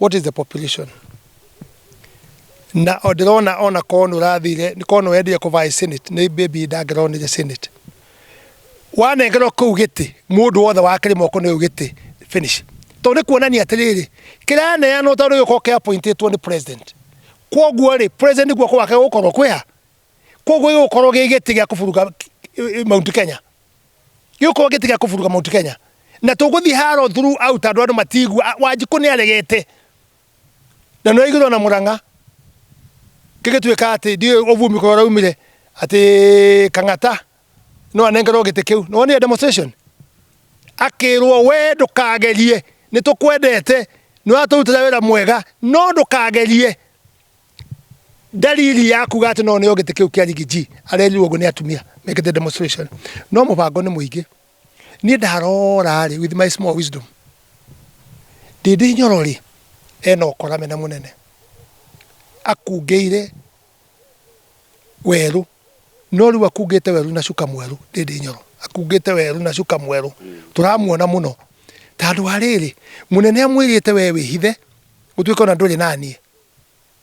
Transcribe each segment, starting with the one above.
what is the population na ndĩrona ona korwo nĩ ũrathire nĩ korwo nĩ wendire kũvaĩ senate nĩ baby ndangĩronire senate wanengerwo kĩu gĩtĩ mũndũ wothe wakĩrĩ moko nĩ gĩtĩ finish tondũ nĩ kuonania atĩrĩrĩ kĩraneanwo tondũ gĩkorwo kĩa appointĩtwo nĩ president kwoguo rĩ president nĩguo kwake gũkorwo kwĩha kwoguo gĩgũkorwo gĩ gĩtĩ gĩa kũburuga Mount Kenya gĩũkoo gĩtiga kũburuka Mount Kenya na tũgũthiĩ haro thuru out andũ andũ matigua wanjikũ nĩ aregete na nĩ aigirwo na mũrang'a gĩgĩtuĩka atĩ ndiũ ũvumi kũrĩa ũraumire atĩ kang'ata no anengerwo gĩtĩ kĩu nĩ wonire demonstration akĩrwo we ndũkagerie nĩ tũkwendete nĩ watũrutĩra wĩra mwega no ndũkagerie Ndariri ya kuga atĩ no neo gĩtĩ kĩu kĩa rigi G arerirwo ũguo nĩ atumia mekĩte demonstration. No mũbango nĩ mũingĩ. Niĩ ndarora rĩ with my small wisdom Ndĩndĩ Nyoro rĩ ena ũkora mena mũnene. Akungĩire werũ no rĩu akungĩte werũ na cuka mwerũ Ndĩndĩ Nyoro. Akungĩte werũ na cuka mwerũ. Tũramuona mũno. Ta andũ a rĩrĩ mũnene amwĩrĩte we wĩhithe ũtuĩke ona ndũrĩ naniĩ.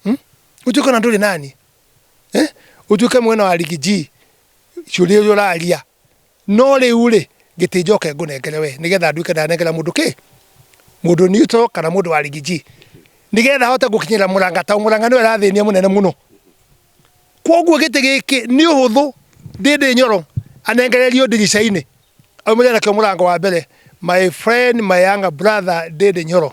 hmm? utuke na nduri nani eh? utuke mwena wa rigiji curi uyu raria no riu ri giti njoke ngunengere we nigetha nduike ndanengera mundu ki mundu niuto kana mundu wa rigiji nigetha hote gukinyira muranga ta muranga ni arathinia munene muno koguo giti giki ni uhuthu ndindi nyoro anengererio ndirica-ini aumire nakio murango wa mbere my friend my younger brother ndindi nyoro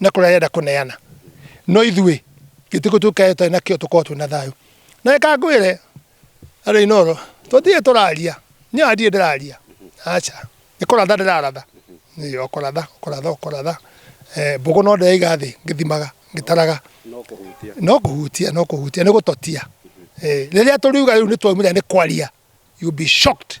na kũrĩa arenda kũneana no ithuĩ gĩtĩ kũ tũkae tũtarĩ nakĩo tũkorwo twĩ na thayũ na reka ngwĩre andũ inoro tũtirĩ tũraria niĩ ona ndirĩ ndĩraria aca nĩ kũratha ndĩraratha Ĩĩ, o kũratha o kũratha o kũratha Eh, mbũgũ no ndĩraiga thĩ ngĩthimaga ngĩtaraga no kũhutia no kũhutia no kũhutia nĩ gũtotia Eh, rĩrĩa tũriuga rĩu nĩ twaumire nĩ kwaria you be shocked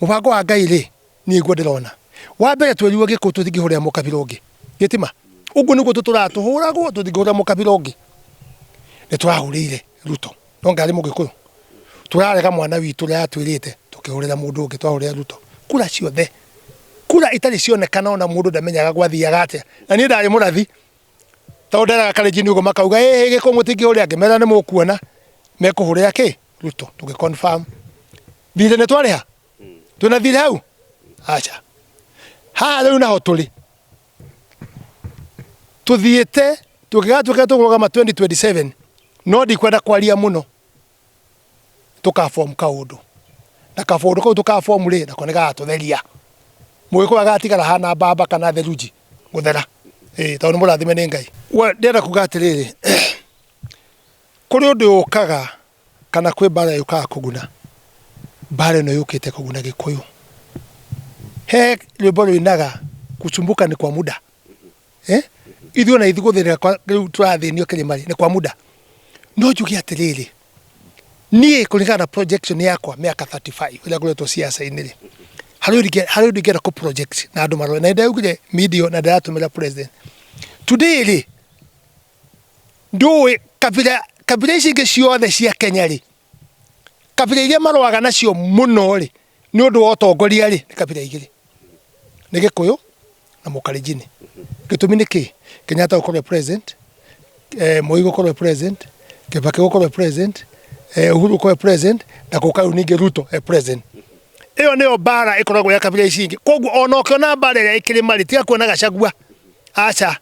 Mũbango wa Ngai rĩ, niĩ iguo ndĩrona. Wa mbere twerirwo gĩkũ tũtingĩhũrĩra mũkabira ũngĩ. Gĩtima. Ũguo nĩguo tũtũraga tũhũragwo tũtingĩhũrĩra mũkabira ũngĩ. Nĩ tũrahũrĩire Ruto. No ngarĩ mũgĩkũyũ. Tũrarega mwana witũ ũrĩa atwĩrĩte tũkĩhũrĩra mũndũ ũngĩ twahũrĩra Ruto. Kura ciothe. Kura itarĩ cionekana ona mũndũ ndamenyaga gwathiaga atĩa. Na niĩ ndarĩ mũrathi. Tondũ nderaga Kalenjin ũguo makauga ĩĩ gĩkũ mũtingĩhũrĩra ngĩmera nĩ mũkuona mekũhũrĩra kĩ? Ruto tũgĩ confirm thirĩ nĩ twarĩha twĩna thirĩ hau aca haha rĩu naho tũrĩ tũthiĩte tũngĩgatuĩka tũkũrũgama 2027 no ndikwenda kwaria mũno tũkabomu kaũndũ na kabomu kau tũkabomu rĩ nako nĩ gagatũtheria mũgĩkũyũ agatigara hana mbamba kana theruji gũthera ĩĩ tondũ nĩ mũrathime nĩ ngai ndĩrenda kuga atĩrĩrĩ Kũrĩ ũndũ ũkaga kana kwĩ mbaara yũkaga kũguna, mbaara ĩno yũkĩte kũguna Gĩkũyũ. He rwĩmbo rũinaga kusumbuka ni kwa muda, ithuĩ ona ithuĩ gũthĩnĩka rĩu tũrathĩnio kĩrĩma rĩ, nĩ kwa muda. No njuge atĩrĩrĩ, niĩ kũringana na projection yakwa mĩaka thirty five ĩrĩa ngoretwo ciaca-inĩ rĩ, harĩ ũndũ ingĩenda kũ project na andũ marore. Na nĩ ndaugire media ĩyo na ndĩratũmĩra president. Today rĩ, ndũĩ kabira kabira ici ingĩ ciothe cia Kenya rĩ kabira iria marũaga nacio mũno rĩ nĩ ũndũ wa ũtongoria rĩ nĩ kabira igĩrĩ nĩ Gĩkũyũ na Mũkalenjini gĩtũmi nĩ kĩ Kenyatta gũkorwo e president eh, Moi gũkorwo e president Kibaki gũkorwo e president eh, Uhuru gũkorwo e president na gũka rĩu ningĩ Ruto e president ĩyo nĩyo mbara ĩkoragwo ya kabira ici ingĩ koguo ona ũkĩona mbara ĩrĩa ĩkĩrĩ marĩ tiga kuona gacagua aca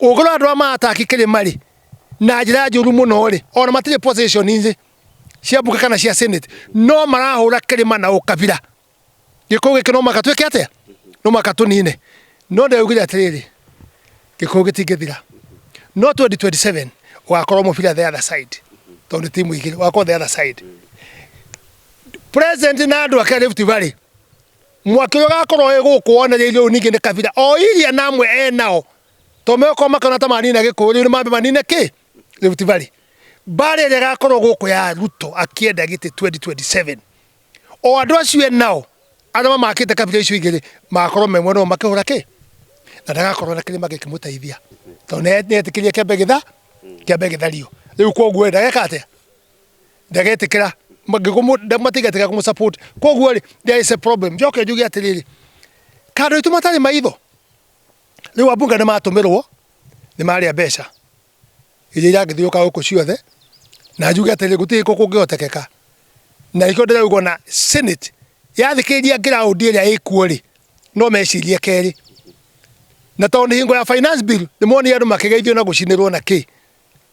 Ũgũra andũ a maataki kĩrĩmarĩ na njĩra njũru mũno rĩ, ona matirĩ position inĩ cia mbuka kana cia senate no marahũra kĩrĩma na ũkabira. Gĩkũyũ gĩkĩ no mũhaka twĩke atĩa? No mũhaka tũnine. No ndaugire atĩrĩrĩ, Gĩkũyũ gĩtingĩthira. No 2027 ũgakorwo mũbira the other side tondũ nĩ timu igĩrĩ, ũgakorwo the other side. President na andũ ake a Rift Valley mwaki ũrĩa ũgakorwo wĩ gũkũ wonereirio rĩu ningĩ nĩ kabira o iria na amwe e nao to megũkorwo makĩona ta manina gĩkũyũ rĩu nĩ mambe manine kĩ Rift Valley mbaara ĩrĩa ĩgakorwo gũkũ ya Ruto akĩenda gĩtĩ 2027 o andũ acio e nao arĩa mamakĩte kabira icio igĩrĩ magakorwo me mwena ũmwe makĩhũra kĩ na ndagakorwo na kĩrĩma gĩkĩmũteithia tondũ nĩ etĩkĩrie kĩambe gĩtha kĩambe gĩthario rĩu koguo ndageka atĩa ndagetikira ngigumu matigetikira kumu support koguo ri there is a problem njoke njuge atiriri kando itu matari maitho riu abunga ni matumirwo ni maria mbeca iria irangithiuka guku ciothe na njuge atiriri gutiri ko kungihotekeka na ikio ndirauga na senate yathikiriria ground iria ikuo ri no mecirie keri na tondu hingo ya finance bill ni monire andu makigeithio na gucinirwo na ki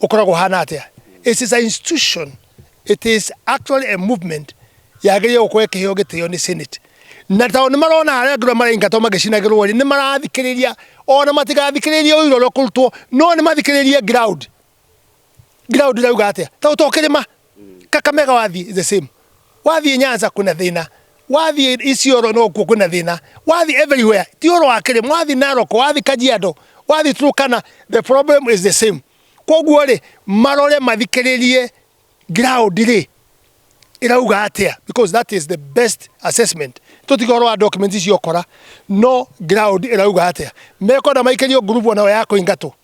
ũkoragwo hana atĩa it is a institution it is actually a movement yagĩrĩire gũkorwo ĩkĩheo gĩtĩo nĩ senate na tao nĩ marona harĩa ngũrĩa maraingatwo magĩcinagĩrwo rĩ nĩ marathikĩrĩria ona matigathikĩrĩrie ũira ũrĩa ũkũrutwo no nĩ mathikĩrĩrie ground ground irauga atĩa tao to kĩrĩma kakamega wathiĩ the same wathiĩ nyanza kwĩna thĩna wathiĩ isioro nokuo kwĩna thĩna wathiĩ everywhere ti ũhoro wa kĩrĩma wathiĩ narok wathiĩ kajiado wathiĩ turkana the problem is the same koguo rĩ marore mathikĩrĩrie ground rĩ irauga atĩa because that is the best assessment tũtige ũhoro wa documents icio ũkora no ground irauga atĩa mekona maikĩrio ngurubu nayo ya kũingatwo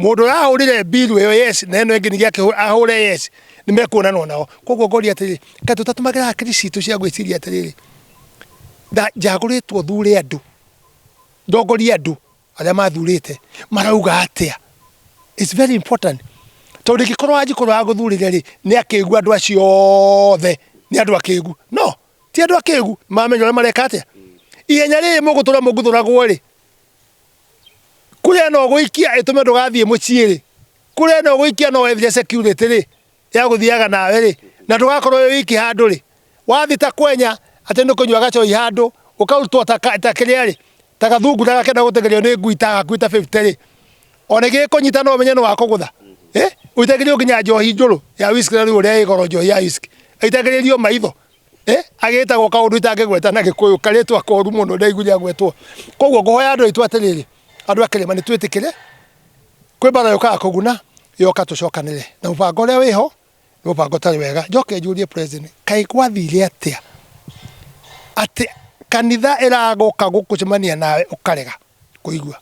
Mũndũ ũrahũrire mbiru ĩyo yes na ĩno ĩngĩ ningĩ akĩhũ- ahũre yes nĩ mekuonanwo nao koguo ngoria atĩrĩ kaĩ tũtatũmagĩra hakiri citũ cia gwĩciria atĩrĩrĩ nda- njagũrĩtwo thure andũ ndongorie andũ arĩa mathurĩte marauga atĩa It's very important tondũ ingĩkorwo wanjikũ ũrĩa wagũthurire rĩ nĩ akĩgu andũ acio othe nĩ andũ akĩgu no ti andũ akĩgu mamenya ũrĩa mareka atĩa ihenya rĩrĩ mũgũtũra mũngũthũragwo rĩ kũrĩa no gũikia ĩtũme ndũgathiĩ mũciĩ-rĩ, kũrĩa no gũikia no wethire security-rĩ ya gũthiaga nawe-rĩ, na ndũgakorwo wĩ wiki handũ-rĩ, wathiĩ ta kwenya atĩ nĩ kũnyua gacoi handũ, ũkarutwo ta kĩrĩa-rĩ, ta gathungu na gakĩenda gũteng'erio nĩ ngui ta gakuĩte ta fifty-rĩ, ona ĩngĩgĩkũnyita no ũmenye nĩ wakũgũtha, ũitagĩrio nginya njohi njũrũ ya whiskey na rĩu ũrĩa ĩ goro njohi ya whiskey, ĩitagĩrĩrio maitho. Eh, agĩtagwo kaũndũ itangĩgweta na gĩkũyũ karĩtwa koru mũno ndaigu rĩa gwetwo koguo ngũhoya andũ aitũ atĩrĩrĩ andũ a kĩrĩma nĩ twĩtĩkĩre kwĩ mbara yũkaga kũguna yoka tũcokanĩre na mũbango ũrĩa wĩho nĩ mũbango ũtarĩ wega njoke njũrie president kaĩ gwathire atĩa atĩ kanitha ĩragũka gũkũcemania nawe ũkarega kũigua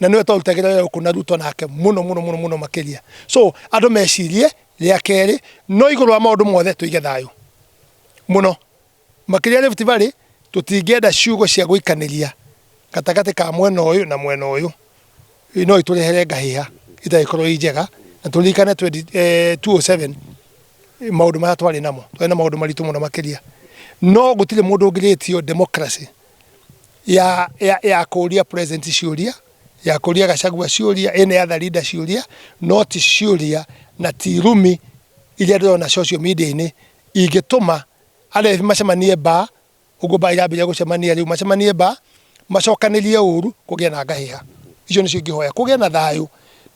na nĩwe twarutagĩra wĩra gũkũ na Ruto nake mũno mũno mũno mũno makĩria so andũ mecirie rĩa kerĩ no igũrũ wa maũndũ mothe tũige thayũ mũno makĩria Rift Valley tũtingĩenda ciugo cia gũikanĩria gatagatĩ ka mwena ũyũ na mwena ũyũ no itũrehere ngahĩha itagĩkorwo i njega na tũririkane 2007 eh, maũndũ marĩa twarĩ namo twarĩ na maũndũ maritũ mũno makĩria no gũtirĩ mũndũ ũngĩrĩtio democracy ya, ya, ya kũria president ciũria ya kũria gacagua ciũria ĩnĩ ya tharinda ciũria no ti ciũria na ti rumi iria ndĩrona social media-inĩ ingĩtũma arĩa macemanie mbaa ũguo mbaa irambĩrĩria gũcemania rĩu macemanie mbaa macokanĩrie ũru kũgĩe na ngahĩha icio nĩcio ingĩhoya kũgĩe na thayũ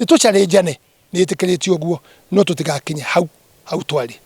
nĩ tũcarĩnjane Nĩ ĩtĩkĩrĩtio ũguo, no tũtigakinye hau hau twarĩ.